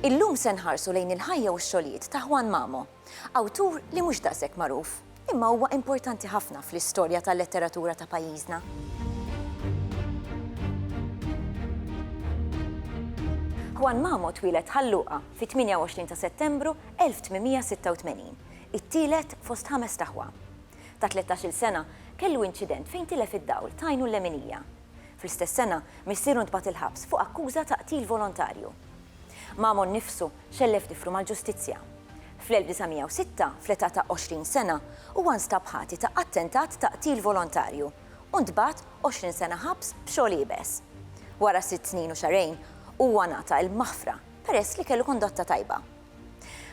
Illum se nħarsu lejn il-ħajja u x-xogħlijiet ta' Juan Mamo, awtur li mhux daqshekk magħruf, imma huwa importanti ħafna fl-istorja tal-letteratura ta' pajjiżna. Juan Mamo twieled ħalluqa fit-28 ta' Settembru 1886. it-tielet fost ħamest aħwa. Ta' tlettax-il sena, kellu inċident fejn tilef id-dawl t'għajnu l-leminija. Fl-istess sena, missieru ntbagħat il-ħabs fuq akkuża ta' qtil volontarju. Mamo nnifsu xellef tiflu mal-ġustizzja. Fl-1906, fl-età ta' għoxrin sena, huwa nstab ħati ta' attentat ta' qtil volontarju u ntbagħat għoxrin sena ħabs b'xogħol iebes. Wara sitt snin u xahrejn, huwa ngħata l-maħfra peress li kellu kondotta tajba.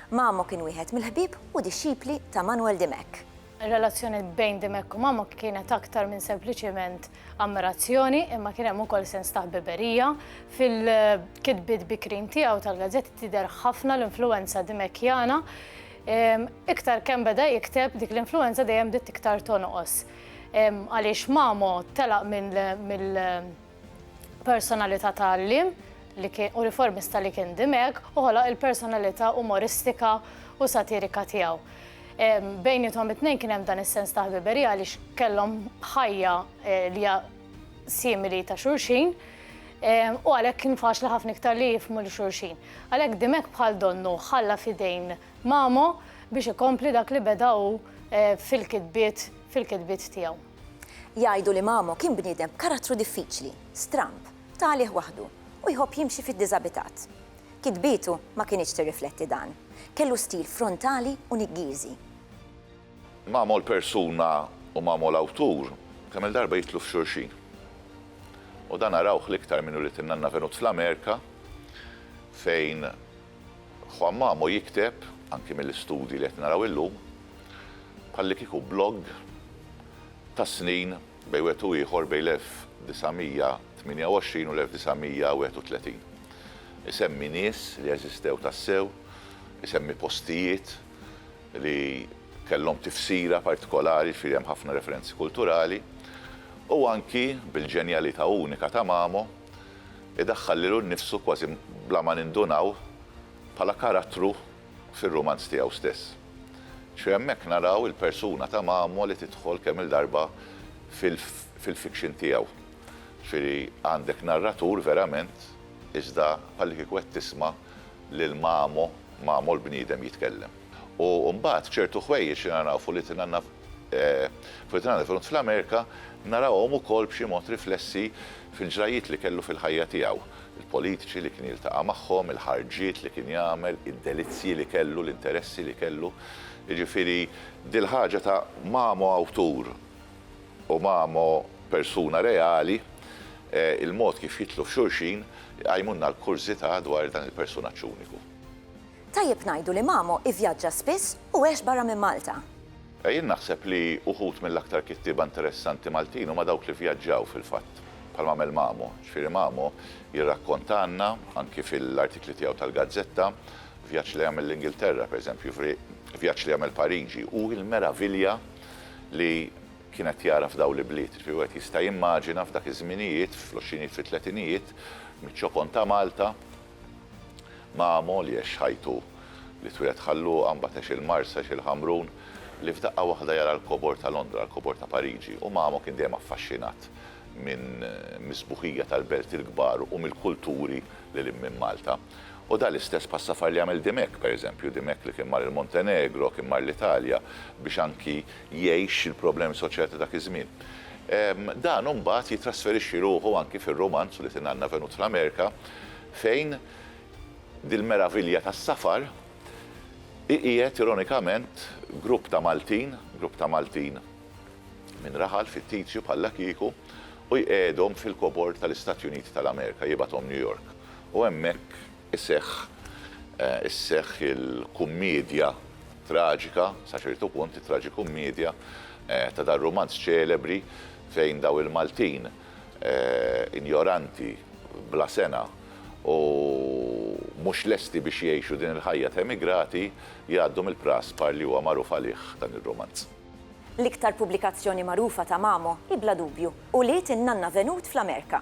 Mamo kien wieħed mill-ħbieb u dixxipli ta' Manuel Dimech. Ir-relazzjoni bejn Dimech u Mamo kienet aktar minn sempliċement ammirazzjoni imma kien hemm ukoll sens ta' ħbiberija. Fil-kitbiet bikrin tiegħu tal-gazzetti tidher ħafna l-influwenza Dimechjana. Iktar kemm beda jikteb, dik l-influwenza dejjem bdiet iktar tonqos. Għaliex Mamo telaq mill Personalità ta' għalliem li kien u riformista li kien Dimech u ħoloq il-personalità umoristika u satirika tiegħu. Bejniethom it-tnejn kien hemm dan is-sens ta' ħbiberija għaliex kellhom ħajja li hija simili ta' xulxin u għalhekk kien faċli ħafna iktar li jifhmu 'l xulxin. Għalhekk Dimech bħal donnu ħalla f'idejn Mamo biex ikompli dak li beda hu fil-kitbiet fil-kitbiet tiegħu. Jgħidu li Mamo kien bniedem b'karattru diffiċli, stramb, ta' għalih waħdu, u jħobb jimxi fid-diżabitat. Kitbietu ma kinitx tirrifletti dan. Kellu stil frontali u niggieżi. Mamo l-persuna u Mamo l-awtur kemm-il darba jidħlu f'xulxin. U dan narawh l-iktar minn ulied in-nanna Venut fl-Amerika fejn Juan Mamo jikteb, anki mill-istudji li qed naraw illum, bħallikieku blogg ta' snin bejn wieħed u ieħor bejn l-1928 u l-1931. Isemmi nies li eżistew tassew, isemmi postijiet li kellhom tifsira partikolari, jiġifieri hemm ħafna referenzi kulturali, u anki bil-ġenjalità unika ta' Mamo, idaħħal lilu nnifsu kważi bla ma nindunaw bħala karattru fir-rumanz tiegħu stess. Xi hemmhekk naraw il-persuna ta' Mamo li tidħol kemm-il darba fil-fiction tiegħu. Ġifieri għandek narratur verament iżda bħallikieku qed tisma' lil Mamo, Mamo l-bniedem jitkellem. U mbagħad ċertu ħwejjeġ li naraw f'Ulitina F'dan il-front fl-Amerika narawhom ukoll b'xi mod riflessi fil-ġrajjiet li kellu fil-ħajja tiegħu, il-politiċi li kien jiltaqa' magħhom, il-ħarġiet li kien jagħmel, id-delizzji li kellu, l-interessi li kellu. Jiġifieri dil-ħaġa ta' Mamo awtur u Mamo persuna reali, il-mod kif jidħlu f'xulxin, iqajmulna l-kurżità dwar dan il-persunaġġ uniku. Tajjeb ngħidu li Mamo ivvjaġġa spiss u għex barra minn Malta. Jien naħseb li uħud mill-aktar kittieba interessanti Maltin huma dawk li vjaġġaw fil-fatt, bħalma għamel Mamo. Ġifieri Mamo jirrakkontalna, anki fil-artikli tiegħu tal-gazzetta, vjaġġ li għamel l-Ingilterra, pereżempju, vjaġġ li għamel Pariġi u l-meravilja li kien qed jara f'dawn l-ibliet. Ġifieri wieħed jista' jimmaġina f'dak iż-żminijiet, fl-għoxrinijiet, fit-tletinijiet, miċ-ċokon ta' Malta, Ma' Molly għex ħajtu. Li twieled Ħal Luqa, mbagħad għex il-Marsa, għex il-Ħamrun, li f'daqqa waħda jara l-kobor ta' Londra, l-kobor ta' Pariġi. U Mamo kien dejjem affaxxinat minn mis-sbuħija tal-belt il-kbar u mill-kulturi lil hinn minn Malta. U dan l-istess passafar li għamel Dimech, pereżempju, Dimech li kien mar il-Montenegro, kien mar l-Italja biex anki jgħix il-problemi soċjali ta' dak iż-żmien. Dan imbagħad jittrasferixxi ruħu anki fir-rumanz li tingħanna venut fl-Amerika fejn dil-meravilja tas-safar iqiegħed ironikament grupp ta' Maltin, grupp ta' Maltin minn raħal fittizju bħallakieku u jqiegħedhom fil-kobor tal-Istati Uniti tal-Amerika, jibgħathom New York u hemmhekk, Iseħħ, isseħħ il-kummiedja traġika, sa ċertu punt it-traġikummiedja, ta' dar-rumanz ċelebri fejn daw il-Maltin injoranti, bla sengħa u mhux lesti biex jgħixu din il-ħajja t'emigrati jgħaddu mill-praspar li huwa magħruf għalih dan ir-rumanz. L-iktar pubblikazzjoni magħrufa ta' Mamo hi bla dubju, Ulied in-Nanna Venut fl-Amerika.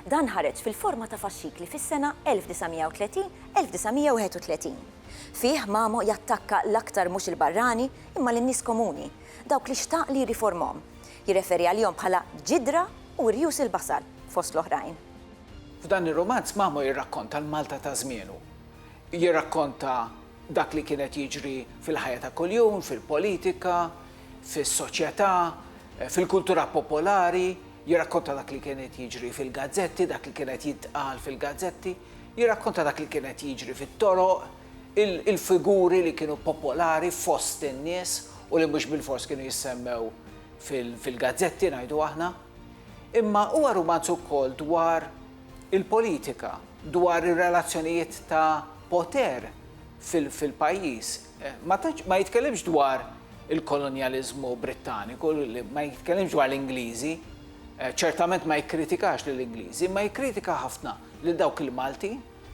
Dan ħareġ fil-forma ta' faxxikli fis-sena 1930, 1931. Fih Mamo jattakka l-aktar mhux il-barrani imma lin-nies komuni, dawk li xtaq li jirriformhom. Jirreferi għalihom bħala ġidra u rjus il-basal, fost l-oħrajn. F'dan ir-rumanz Mamo jirrakkonta l-Malta ta' żmienu. Jirrakkonta dak li kien qed jiġri fil-ħajja ta' kuljum, fil-politika, fis-soċjetà, fil-kultura popolari, Jirrakkonta dak li kien qed jiġri fil-gazzetti, dak li kien qed jintqal fil-gazzetti, jirrakkonta dak li kien qed jiġri fit-toroq, il-figuri li kienu popolari fost in-nies u li mhux bilfors kienu jissemmew fil-gazzetti, ngħidu aħna. Imma huwa rumanz ukoll dwar il-politika, dwar ir-relazzjonijiet ta' poter fil-pajjiż. Ma jitkellimx dwar il-kolonjaliżmu Brittaniku, ma jitkellimx dwar l-Ingliżi, ċertament ma jikkritikax lill-Ingliżi, imma jikkritika ħafna lil dawk il-Malti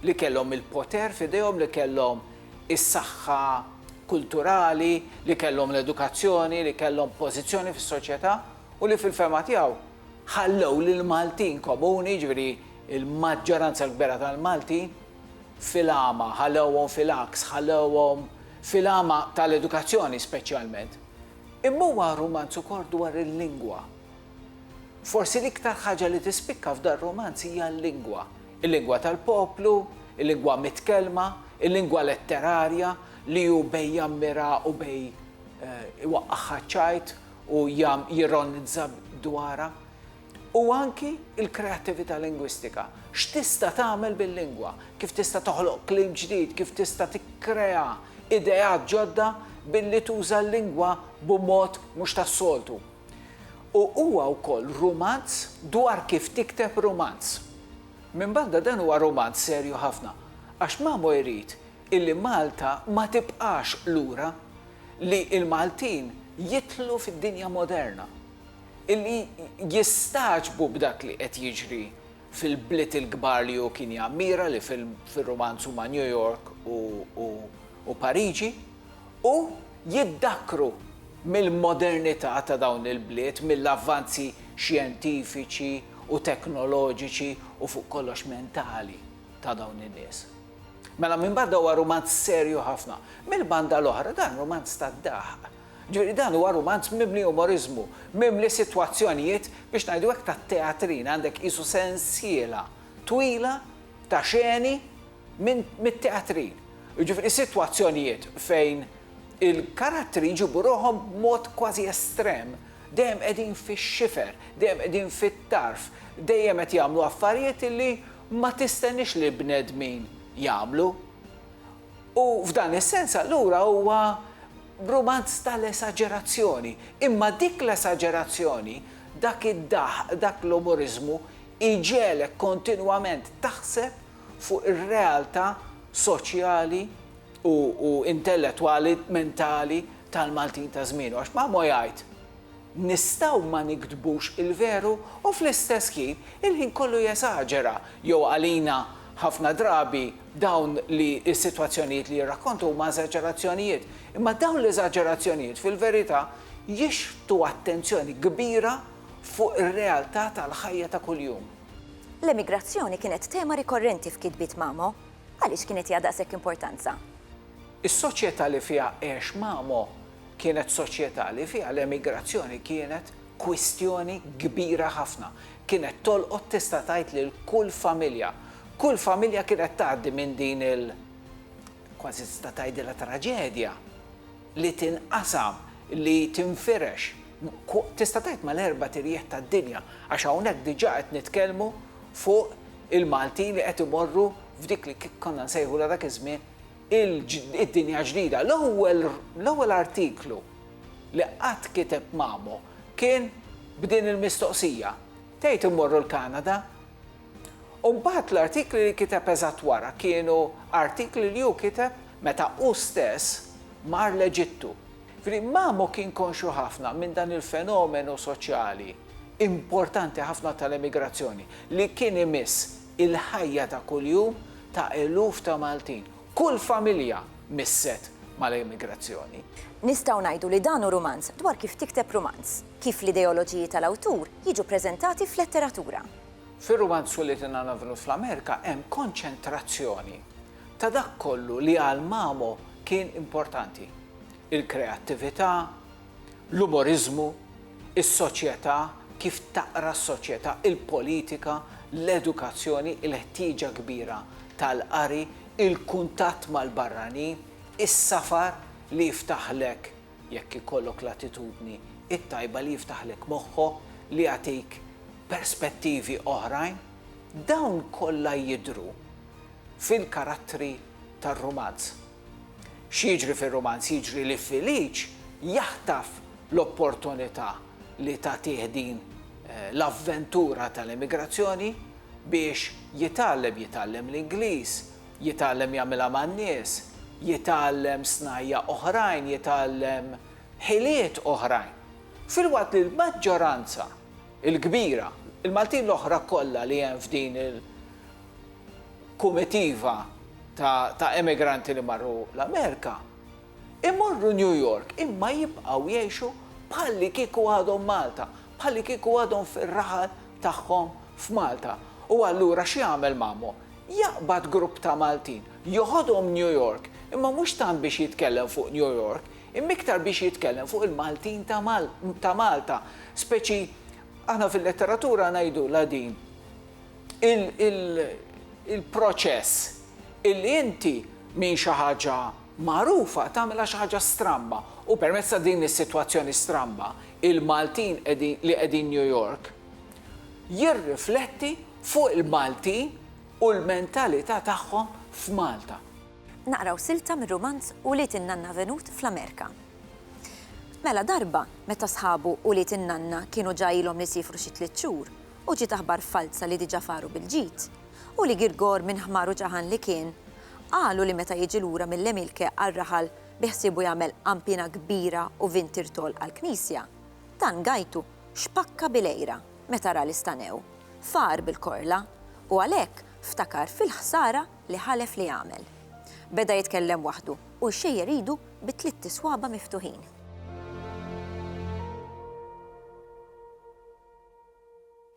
li kellhom il-poter f'idejhom, li kellhom is-saħħa kulturali, li kellhom l-edukazzjoni, li kellhom pożizzjoni fis-soċjetà u li fil-fehma tiegħu ħallew lill-Maltin komuni, jiġifieri l-maġġoranza l-kbira tal-Maltin, fil-għama, ħallewhom fil-għaks, ħallewhom fil-għama tal-edukazzjoni speċjalment, imma huwa rumanz ukoll dwar il-lingwa. Forsi l-iktar ħaġa li tispikka f'dan rumanz hija l-lingwa, il-lingwa tal-poplu, il-lingwa mitkellma, il-lingwa letterarja li hu bejn jammira u bejn iwaqqagħha ċ-ċajt u jirronizza dwarha. U anki l-kreattività lingwistika, x'tista' tagħmel bil-lingwa, kif tista' toħloq kliem ġdid, kif tista' tikkrea ideat ġodda billi tuża l-lingwa b'mod mhux tas-soltu. U huwa wkoll rumanz dwar kif tikteb rumanz. Minbarra dan huwa rumanz serju ħafna, għax Mamo jrid illi Malta ma tibqax lura, li l-Maltin jidħlu fid-dinja moderna. li jistagħġbu b'dak li qed jiġri fil-bliet il-kbar li hu kien jammira li fir-rumanz huma New York u Pariġi u jiddakkru mill-modernità ta' dawn il-bliet, mill-avvanzi xjentifiċi u teknoloġiċi u fuq kollox mentali ta' dawn in-nies. Mela minn banda huwa rumanz serju ħafna, mill-banda l-oħra dan rumanz tad-daħq Ġifieri dan huwa rumanz mimli umoriżmu, mimli sitwazzjonijiet, biex ngħidu hekk, ta' teatrin, għandek qisu sensiela twila ta' xeni minn mit-teatrin. Jiġifieri sitwazzjonijiet fejn il-karattri jġibu ruħhom b'mod kważi estrem, dejjem qegħdin fix-xifer, dejjem qegħdin fit-tarf, dejjem qed jagħmlu affarijiet li ma tistenniex li l-bnedmin jagħmlu. U f'dan is-sens allura huwa rumanz tal-esaġerazzjoni. Imma dik l-esaġerazzjoni, dak id-daħq, dak l-umoriżmu jġegħlek kontinwament taħseb fuq ir-realtà soċjali u intellettwali, mentali tal-Maltin ta' żmienu. Għax Mamo jgħid, nistgħu ma niktbux il-veru u fl-istess ħin il-ħin kollu jesaġera jew għalina ħafna drabi dawn li s-sitwazzjonijiet li jirrakkontu huma eżaġerazzjonijiet. Imma dawn l-eżaġerazzjonijiet fil-verità jixħtu attenzjoni kbira fuq ir-realtà tal-ħajja ta' kuljum. L-emigrazzjoni kienet tema rikorrenti f'kitbiet Mamo. Għaliex kienet hija daqshekk importanza? Is-soċjetà li fiha għex Mamo Kienet soċjetà li fiha l-emigrazzjoni kienet kwistjoni kbira ħafna. Kienet tolqot tista' tgħid lil kull familja. Kull familja kienet tgħaddi minn din il kważi tista' tgħidilha traġedja li tinqasam, li tinfirex, tista' tgħid mal-erbat irjieħ tad-dinja, għax hawnhekk diġà qed nitkellmu fuq il-Maltin li qed imorru f'dik li konna nsejħulha dak iż-żmien il-Dinja Ġdida, l-ewwel artiklu li qatt kiteb Mamo kien b'din il-mistoqsija, Tgħid immorru l-Kanada? U mbagħad l-artikli li kiteb eżatt wara kienu artikli li hu kiteb meta hu stess mar l-Eġittu. Jiġifieri Mamo kien konxju ħafna minn dan il-fenomenu soċjali importanti ħafna tal-emigrazzjoni li kien imiss il-ħajja ta' kuljum ta' eluf ta' Maltin. Kull familja misset mal-emigrazzjoni. Nistgħu ngħidu li dan hu rumanz dwar kif tikteb rumanz, kif l-ideoloġiji tal-awtur jiġu ppreżentati f'letteratura. Fir-rumanz Twilit in Anavnu fl-Amerika hemm konċentrazzjoni ta' dak kollu li għal Mamo kien importanti, il-kreattività, l-umoriżmu, is-soċjetà, kif taqra s-soċjetà, il-politika, l-edukazzjoni, il-ħtieġa kbira tal-qari, il-kuntatt mal-barranin, is-safar li jiftaħlek, jekk ikollok l-attitudni t-tajba, li jiftaħlek moħħok, li jagħtik perspettivi oħrajn, dawn kollha jidhru fil-karattri tar-rumanz. X'jiġri fir-rumanz? Jiġri li Filiċ jaħtaf l-opportunità li tagħtih din l-avventura tal-emigrazzjoni biex jitgħallem, jitgħallem l-Ingliż, jitgħallem jagħmilha man-nies, jitgħallem snajja' oħrajn, jitgħallem ħiliet oħrajn. Filwaqt li l-maġġoranza il-kbira. Il-Maltin l-oħra kollha li hemm f'din il-kumitiva ta' emigranti li marru l-Amerika, imorru New York imma jibqgħu jgħixu bħallikieku għadhom Malta, bħallikieku għadhom fir-raħal tagħhom f'Malta. U allura x'jagħmel Mamo? Jaqbad grupp ta' Maltin, joħodhom New York, imma mhux tant biex jitkellem fuq New York, Imma iktar biex jitkellem fuq il-Maltin ta' Malta, speċi aħna fil-letteratura ngħidulha din il-proċess illi inti minn xi ħaġa magħrufa tagħmilha xi ħaġa stramba u permezz ta' din is-sitwazzjoni stramba il-Maltin li qegħdin New York jirrifletti fuq il-Maltin u l-mentalità tagħhom f'Malta. Naqraw silta mir-rumanz Ulied in-Nanna Venut fl-Amerika. Mela darba, meta sħabu ulied in-nanna kienu ġa ilhom li siefru xi tliet xhur, u ġiet aħbar falza li diġa faru bil-ġid, u li Girgor minn ħmar u ġaħan li kien, qalu li meta jiġi lura mill-Emilke għar-raħal biħsiebu jagħmel qanpiena kbira u vin tirtol għall-knisja, dan gajtu xpakka bil-għira meta ra li stanew far bil-korla, u għalhekk ftakar fil-ħsara li ħalef li jagħmel. Beda jitkellem waħdu u jxejjer idu bi tlitt iswaba' miftuħin.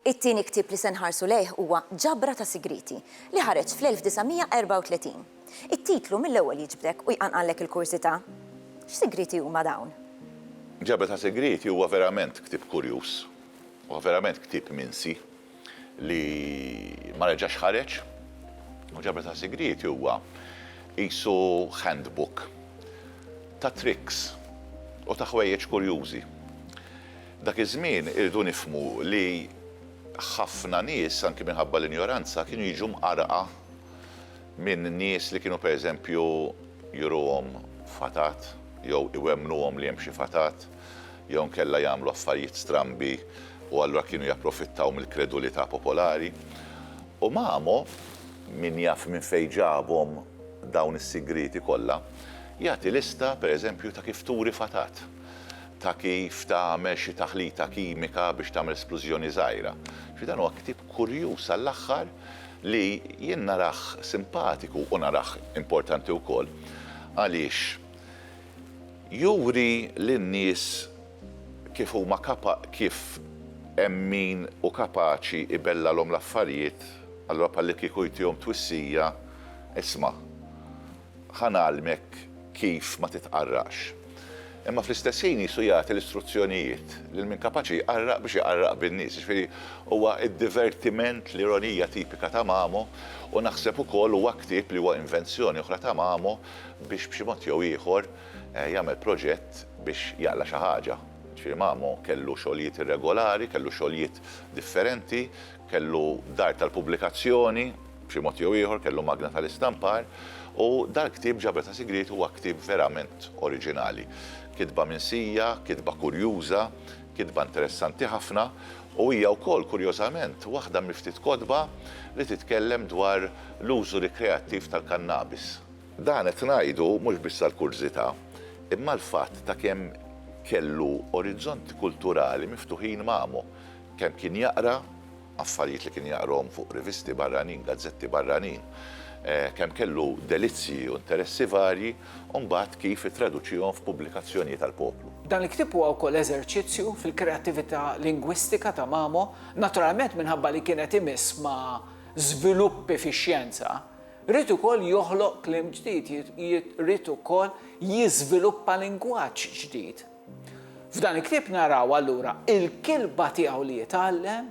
It-tieni ktieb li se nħarsu lejh huwa Ġabra ta' Sigrieti li ħareġ fl-1934. It-titlu mill-ewwel jiġbdek u jqanqallek il-kurżità. X'sigrieti huma dawn? Ġabra ta' Sigrieti huwa verament ktieb kurjuż. Huwa verament ktieb minsi. li ma reġax ħareġ u ġabra ta' sigrieti huwa qisu handbook ta' tricks u ta' ħwejjeġ kurjużi. Dak iż-żmien irridu nifhmu li ħafna nies anki minħabba l-injoranza kienu jiġu mqarrqa minn nies li kienu pereżempju juruhom fatat jew iwemmnuhom li hemm xi fatat. jew inkella jagħmlu affarijiet strambi u allura kienu japprofittaw mill-kredulità popolari. U Mamo, min jaf minn fejn ġabhom dawn is-sigrieti kollha, jagħti lista, per eżempju, ta' kif turi fatat, ta' kif tagħmel xi taħlita kimika biex tagħmel splużjoni żgħira. Jiġifieri dan huwa ktieb kurjuż għall-aħħar li jien narah simpatiku u narah importanti wkoll għaliex Juri lin-nies kif huma kapa kif hemm min hu kapaċi jbellalhom l-affarijiet, allura bħallikieku jtihom twissija, Isma', ħa ngħallmek kif ma titqarraqx. Imma fl-istess ħin Ġesù jagħti l-istruzzjonijiet lil min kapaċi jqarraq biex iqarraq bin-nies. Jiġifieri huwa d-divertiment, l-ironija tipika ta' Mamo, u naħseb ukoll huwa ktieb li huwa invenzjoni oħra ta' Mamo, biex b'xi mod jew ieħor jagħmel proġett biex jaqla' xi ħaġa. Ġifieri Mamo kellu xogħlijiet irregolari, kellu xogħlijiet differenti, kellu dar tal-pubblikazzjoni, b'xi mod jew ieħor kellu magna tal-istampar, u dal-ktieb Ġabra ta' Sigriet huwa ktieb verament oriġinali. Kitba minsija, kitba kurjuża, Kitba interessanti ħafna u hija wkoll kurjożament waħda mill-ftit kotba li titkellem dwar l-użu rikreattiv tal-kannabis. Dan qed ngħidu mhux biss għall-kurżità, imma għall-fatt ta' kemm kellu orizzonti kulturali miftuħin Mamo, kemm kien jaqra, affarijiet li kien jaqrahom fuq rivisti barranin, gazzetti barranin, kemm kellu delizzji u interessi varji, u mbagħad kif ittraduċihom f'pubblikazzjonijiet għall-poplu. Dan il-ktieb huwa wkoll eżerċizzju fil-kreattività lingwistika ta' Mamo, naturalment minħabba li kien qed imiss ma' żviluppi fix-xjenza, ried ukoll joħloq kliem ġdid, ried ukoll jiżviluppa lingwaġġ ġdid. F'dan il-ktieb naraw allura il-kilba tiegħu li jitgħallem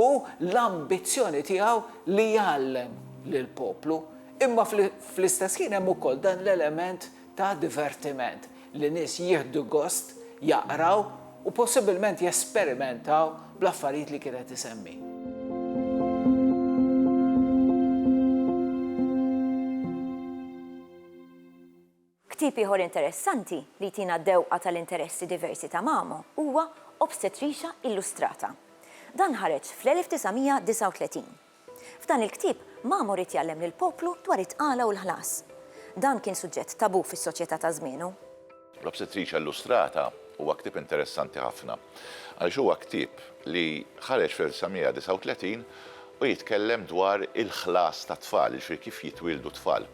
u l-ambizzjoni tiegħu li jgħallem lill-poplu, imma fl-istess ħin hemm ukoll dan l-element ta' divertiment li nies jieħdu gost jaqraw u possibbilment jesperimentaw bl-affarijiet li kien qed isemmi. Ktieb ieħor interessanti li jtina dewqa tal-interessi diversi ta' Mamo huwa Obstetricia Illustrata. Dan ħareġ fl-1939. F'dan il-ktieb, Mamo ried jgħallem lill-poplu dwar it-tqala u l-ħlas. Dan kien suġġett tabù fis-soċjetà ta' żmienu. L-Obstetricia Illustrata Huwa ktieb interessanti ħafna għaliex huwa ktieb li ħareġ fl-1939 u jitkellem dwar il-ħlas tat-tfal, jiġifieri kif jitwieldu t-tfal.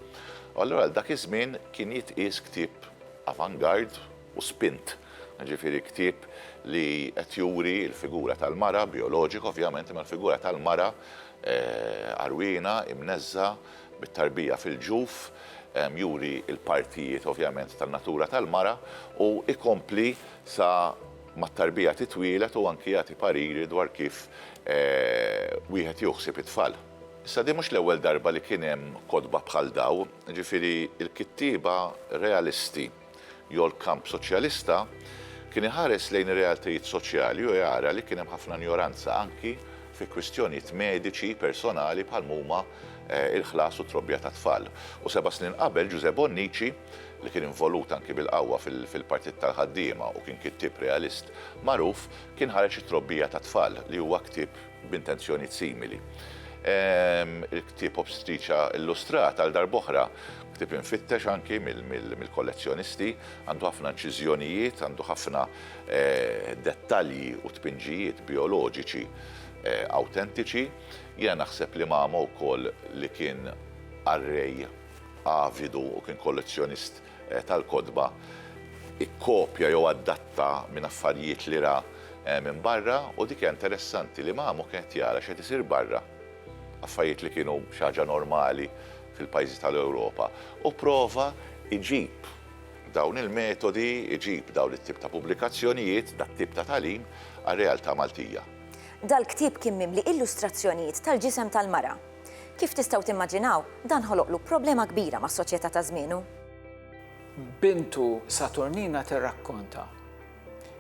U allura għal dak iż-żmien kien jitqies ktieb avant-garde u spint, jiġifieri ktieb li qed juri l-figura tal-mara, bijoloġika ovvjament, imma l-figura tal-mara għarwiena, imneżżgħa, bit-tarbija fil-ġuf, juri l-partijiet ovvjament tan-natura tal-mara u jkompli sa mat-tarbija titwieled u anki jagħti pariri dwar kif wieħed jieħu ħsieb it-tfal. Issa din mhux l-ewwel darba li kien hemm kotba bħal dawn, jiġifieri l-kittieba realisti jew l-kamp soċjalista, kien iħares lejn ir-realtajiet soċjali u jara li kien hemm ħafna injoranza anki fi kwistjonijiet mediċi personali bħal m'huma l-ħlas u t-trobbija tat-tfal. U seba' snin qabel, Ġużè Bonnici, li kien involut anki bil-qawwa fil-Partit tal-Ħaddiema u kien kittieb realist magħruf, kien ħareġ It-Trobbija tat-Tfal, li huwa ktieb b'intenzjonijiet simili. Il-ktieb Obstetriċa Illustrat, għal darb'oħra, ktieb imfittex anki mill-kollezzjonisti, għandu ħafna inċiżjonijiet, għandu ħafna dettalji u tpinġijiet bijoloġiċi awtentiċi. Jiena naħseb li mama wkoll li kien qarrej avidu u kien kollezzjonist tal-kotba, ikkopja jew adatta minn affarjiet li ra minn barra u dik hija interessanti li Mamo kien qed jara x'qed isir barra, affarijiet li kienu xi ħaġa normali fil-pajjiżi tal-Ewropa u prova jġib dawn il-metodi, jġib dawn it-tip ta' pubblikazzjonijiet, dat-tip ta' tagħlim għar-realtà Maltija. Dal-ktieb kien mimli illustrazzjonijiet tal-ġisem tal-mara. Kif tistgħu timmaġinaw, dan ħoloqlu problema kbira mas-soċjetà ta' żmienu. Bintu Saturnina tirrakkonta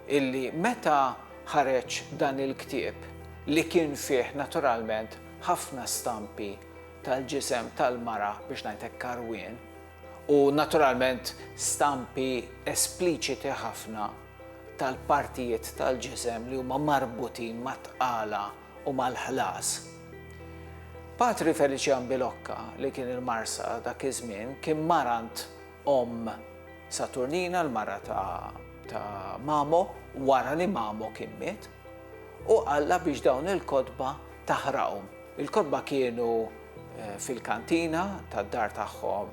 illi meta ħareġ dan il-ktieb, li kien fih naturalment ħafna stampi tal-ġisem tal-mara biex ngħid hekk karwien, u naturalment stampi espliċiti ħafna tal-partijiet tal-ġisem li huma marbutin mat-tqala, u mal-ħlas. Patri Felician Bilocca, li kien il-Marsa dak iż-żmien, kien marant omm Saturnina, l-mara ta' Mamo, wara li Mamo kien miet, u qallha biex dawn il-kotba taħraqhom. Il-kotba kienu fil-kantina tad-dar tagħhom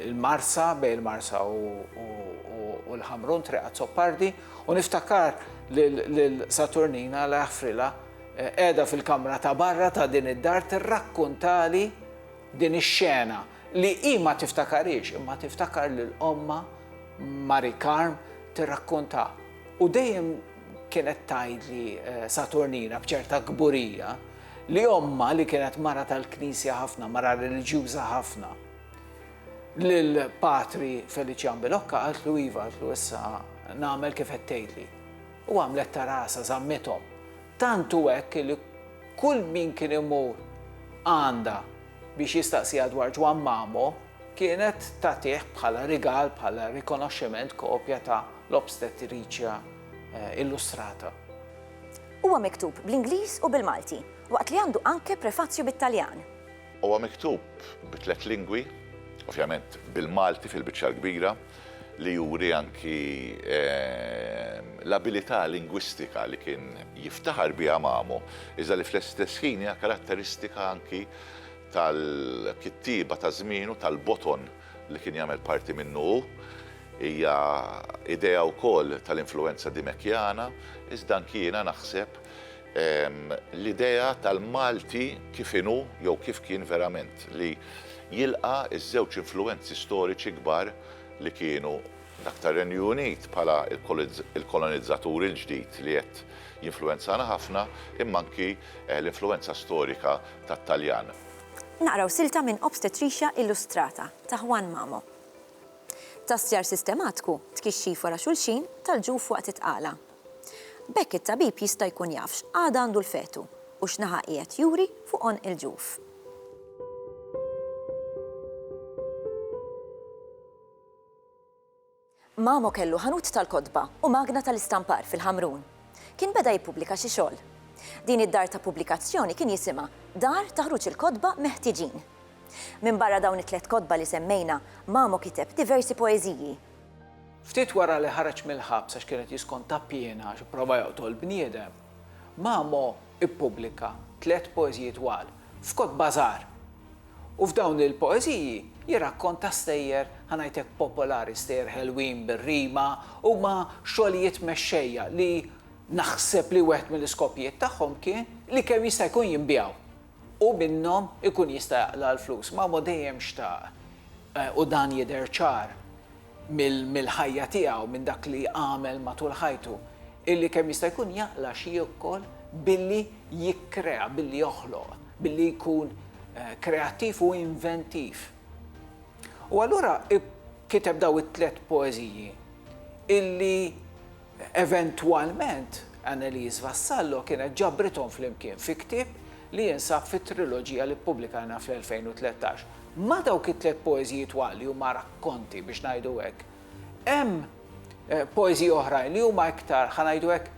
il-Marsa, bejn il-Marsa u l-Ħamrun, Triq Azzopardi, u niftakar lil Saturnina la jaħfrilha qiegħda fil-kamra ta' barra ta' din id-dar tirrakkuntali din ix-xena li hi ma tiftakarhiex imma tiftakar lil ommha Mari Karm tirrakkuntha. U dejjem kienet tgħidli Saturnina b'ċerta kburija li ommha li kienet mara tal-Knisja ħafna, mara reliġjuża ħafna, Lil patri Felician Bilocca qaltlu iva, qaltlu issa nagħmel kif qed tgħidli. U għamlet ta' rasha, żammithom. Tant hu hekk li kull min kien imur għandha biex jistaqsiha dwar Ġwann Mamo, kienet tagħtih bħala rigal, bħala rikonoxximent kopja ta' L-Obstetricia Illustrata. Huwa miktub bl-Ingliż u bil-Malti, waqt li għandu anke prefazju bit-Taljan. Huwa miktub bi tliet lingwi, ovvjament bil-Malti fil-biċċa l-kbira, li juri anki l-abilità lingwistika li kien jiftaħar biha Mamo, iżda li fl-istess ħin hija karatteristika anki tal-kittieba ta' żmienu, tal-boton li kien jagħmel parti minnu hu. Hija idea wkoll tal-influwenza Dimekjana, iżda anki jiena naħseb l-idea tal-Malti kif inhu jew kif kien verament, li jilqa' ż-żewġ influwenzi storiċi kbar li kienu dak tar-Renju Unit bħala l-kolonizzatur il-ġdid li qed jinfluwenzana ħafna imma anki l-influwenza storika tat-Taljan. Naqraw silta minn Obstetricia Illustrata ta' Juan Mamo. Tassjar sistematku, tkixxif wara xulxin, tal-ġuf waqt it-tqala. B'hekk it-tabib jista' jkun jaf x'qagħda għandu l-fetu u x'naħa qiegħed juri fuq għonq il-ġuf. Mamo kellu ħanut tal-kotba u magna tal-istampar fil-Ħamrun. Kien beda jippubblika xi xogħol. Din id-dar ta' pubblikazzjoni kien jisimha Dar ta' Ħruġ il-Kotba Meħtiġin. Minbarra dawn it-tliet kotba li semmejna, Mamo kiteb diversi poeżiji, Ftit wara li ħareġ mill-ħabs għax kien qed jiskonta piena għax ipprova joqtol bniedem, Mamo ippubblika tliet poeżiji twal f'kotba żgħar. U f'dawn il-poeżiji jirrakkonta stejjer, ħa ngħidlek popolari, stejjer ħelwin bir-rima, huma xogħlijiet mexxejja li naħseb li wieħed mill-iskopijiet tagħhom kien li kemm jista' jkun jinbiegħu. u minnhom ikun jista' jaqla' l-flus. Mamo dejjem xtaq, u dan jidher ċar mill-ħajja tiegħu, minn dak li għamel matul ħajtu, illi kemm jista' jkun jaqla' xi jiekol billi jikkrea, billi joħloq, billi jkun kreattiv u inventiv. U allura kiteb dawn it-tliet poeżiji illi Eventwalment, Anneliese Vassallo kienet ġabrithom flimkien fi ktieb li jinsab fit-triloġija li ppubblikajna fl-2013. Ma' dawk it-tliet poeżiji twal li huma rakkonti, biex ngħidu hekk, hemm poeżiji oħrajn li huma iktar, ħa ngħidu hekk,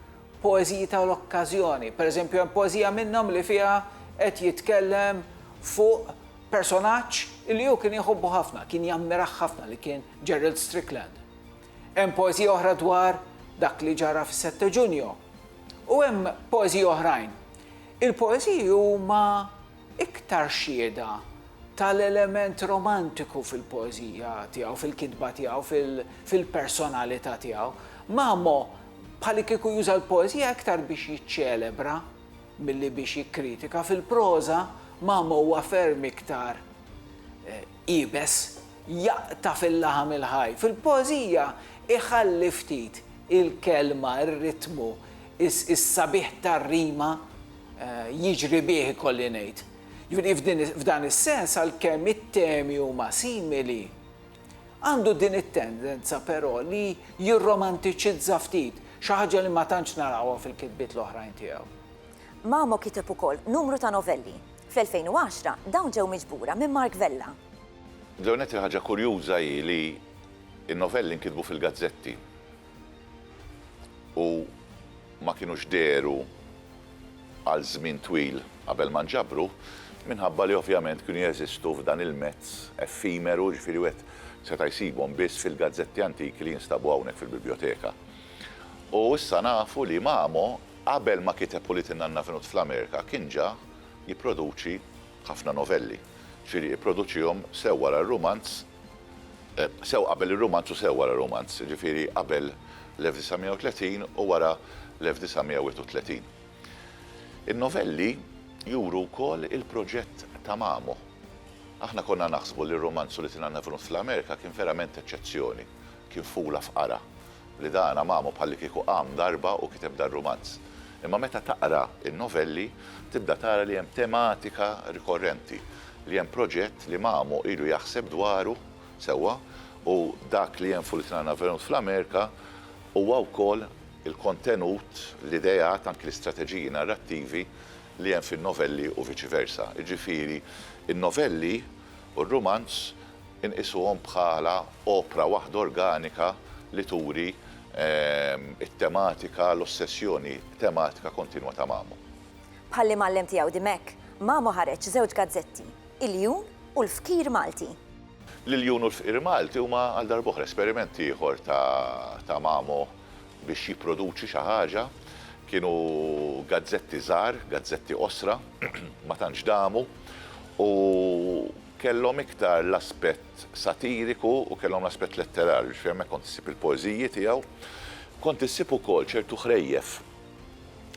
poeżiji tal-okkażjoni. Pereżempju, hemm poeżija minnhom li fiha qed jitkellem fuq personaġġ li hu kien jħobbu ħafna, kien jammirah ħafna li kien Gerald Strickland. Hemm poeżija oħra dwar dak li ġara fis-Sette Ġunju. U hemm poeżiji oħrajn. Il-poeżiji huma iktar xhieda tal-element romantiku fil-poeżija tiegħu, fil-kitba tiegħu, fil-personalità tiegħu. Mamo bħalikieku juża l-poeżija iktar biex jiċċelebra milli biex jikkritika. Fil-proża Mamo huwa ferm iktar eh, Iebes jaqta' fil-laħam il-ħaj. Fil-poeżija jħalli ftit il-kelma, ir-ritmu, is-sabiħ tar-rima jiġri bih ikolli ngħid. Jiġifieri f'dan is-sens għalkemm it-temi huma simili, għandu din it-tendenza però li jirromantiċizza ftit, xi ħaġa li ma tantx narawha fil-kitbiet l-oħrajn tiegħu. Mamo kiteb ukoll numru ta' novelli, Fl-2010, dawn ġew miġbura minn Mark Vella. L-ewwel nett il-ħaġa kurjuża hi li n-novelli nkitbu fil-gazzetti u ma kinux dehru għal żmien twil qabel ma nġabru, minħabba li ovvjament kienu jeżistu f'dan il-mezz effimeru, jiġifieri wieħed seta' jsibhom biss fil-gazzetti antiki li jinstabu hawnhekk fil-bibljoteka. U issa nafu li Mamo, qabel ma kiteb Ulied in-Nanna F'Nut fl-Amerika, kien ġa. jipproduċi ħafna novelli. Ġifieri ipproduċihom sew wara r-rumanz, sew qabel ir-rumanz u sew wara r-rumanz, ġifieri qabel l-1930 u wara l-1931. In-novelli juru wkoll il-proġett ta' Mamo. Aħna konna naħsbu li r-rumanz u li tingħanna Venus fl-Amerika kien verament eċċezzjoni. Kien fula fqara, li dana mamu bħallikieku qam darba u kiteb dar-rumanz. Imma meta taqra n-novelli, tibda tara li hemm tematika rikorrenti, li hemm proġett li mamu ilu jaħseb dwaru sewwa u dak li hemm f'Ulitna Navenunt fl-Amerika huwa wkoll il-kontenut, l-ideat, anki l-istrateġiji narrattivi li hemm fin-novelli u viċi versa. Jiġifieri, in-novelli u r-rumanz inqisuhom bħala opra waħda organika li turi t-tematika, l-ossessjoni tematika kontinwa ta' Mamo. Bħall-imgħallem tiegħu Dimech, Mamo ħareġ żewġ gazzetti, Il-Jun u l-Fqir Malti. L-Iljun u l-Fqir Malti huma għal darb'oħra esperiment ieħor ta' Mamo biex jipproduċi xi ħaġa, kienu gazzetti żgħar, gazzetti qosra, ma tantx damu, u kellhom iktar l-aspett satiriku u kellhom l-aspett letterarju, jiġifieri hemmhekk kont issib il-poeżiji tiegħu. Kont issib ukoll ċertu ħrejjef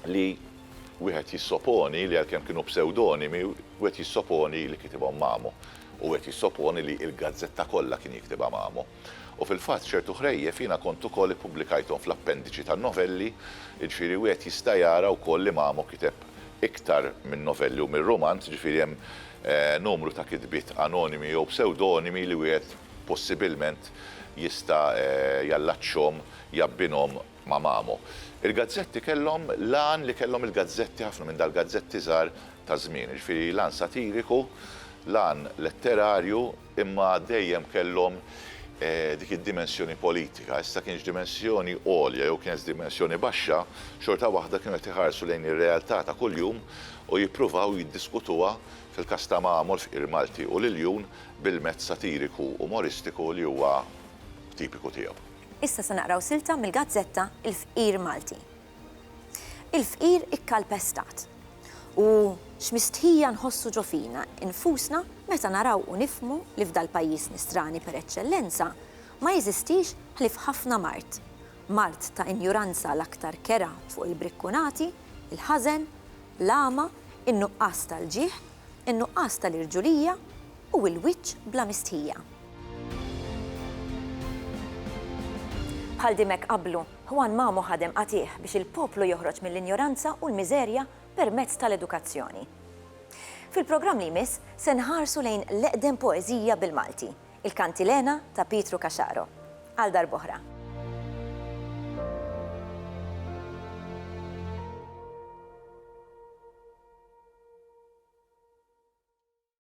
li wieħed jissoponi li għalkemm kienu psewdonimi, wieħed jissoponi li kitibhom Mamo, u wieħed jissoponi li l-gazzetta kollha kien jiktibha Mamo. U fil-fatt ċertu ħrejjef jiena kont ukoll ippubblikajthom fl-appendiċi tan-novelli, jiġifieri wieħed jista' jara wkoll li Mamo kiteb iktar minn novelli u minn rumanz, jiġifieri hemm numru ta' kitbiet anonimi jew psewdonimi li wieħed possibilment jista' jallaċċhom, jabbinhom ma' Mamo. Il-gazzetti kellhom l-għan li kellhom il-gazzetti, ħafna minn dal-gazzetti żgħar taż-żmien, jiġifieri l-għan satiriku, l-għan letterarju, Imma dejjem kellhom dik id-dimensjoni politika. Issa kienx dimensjoni għolja jew kienx dimensjoni baxxa, xorta waħda kienu qed iħarsu lejn ir-realtà ta' kuljum u jippruvaw jiddiskutuha, fil-każ ta' Mamo, l-fqir Malti u l-iljun, bil-mezz satiriku, umoristiku li huwa tipiku tiegħu. Issa se naqraw silta mill-gazzetta Il-Fqir Malti. Il-fqir ikkalpestat. U x'mistħija nħossu ġo fina nfusna meta naraw u nifhmu li f'dal-pajjiż nistrani per eċċellenza ma jeżistix ħlief ħafna mard, mard ta' injuranza l-aktar kera fuq il-brikkunati, il-ħażen, l-għama, in-nuqqas tal-ġieħ, in-nuqqas tal-irġulija u l-wiċċ bla mistħija. Bħal dimek qablu. Juan Mamo ħadem qatigħ biex il-poplu joħroġ mill-injoranza u l-miżerja permezz tal-edukazzjoni. Fil-programm li jmiss se nħarsu lejn l-eqdem poeżija bil-Malti, Il-Kantilena ta' Pietru Caxaro. Għal darb'oħra.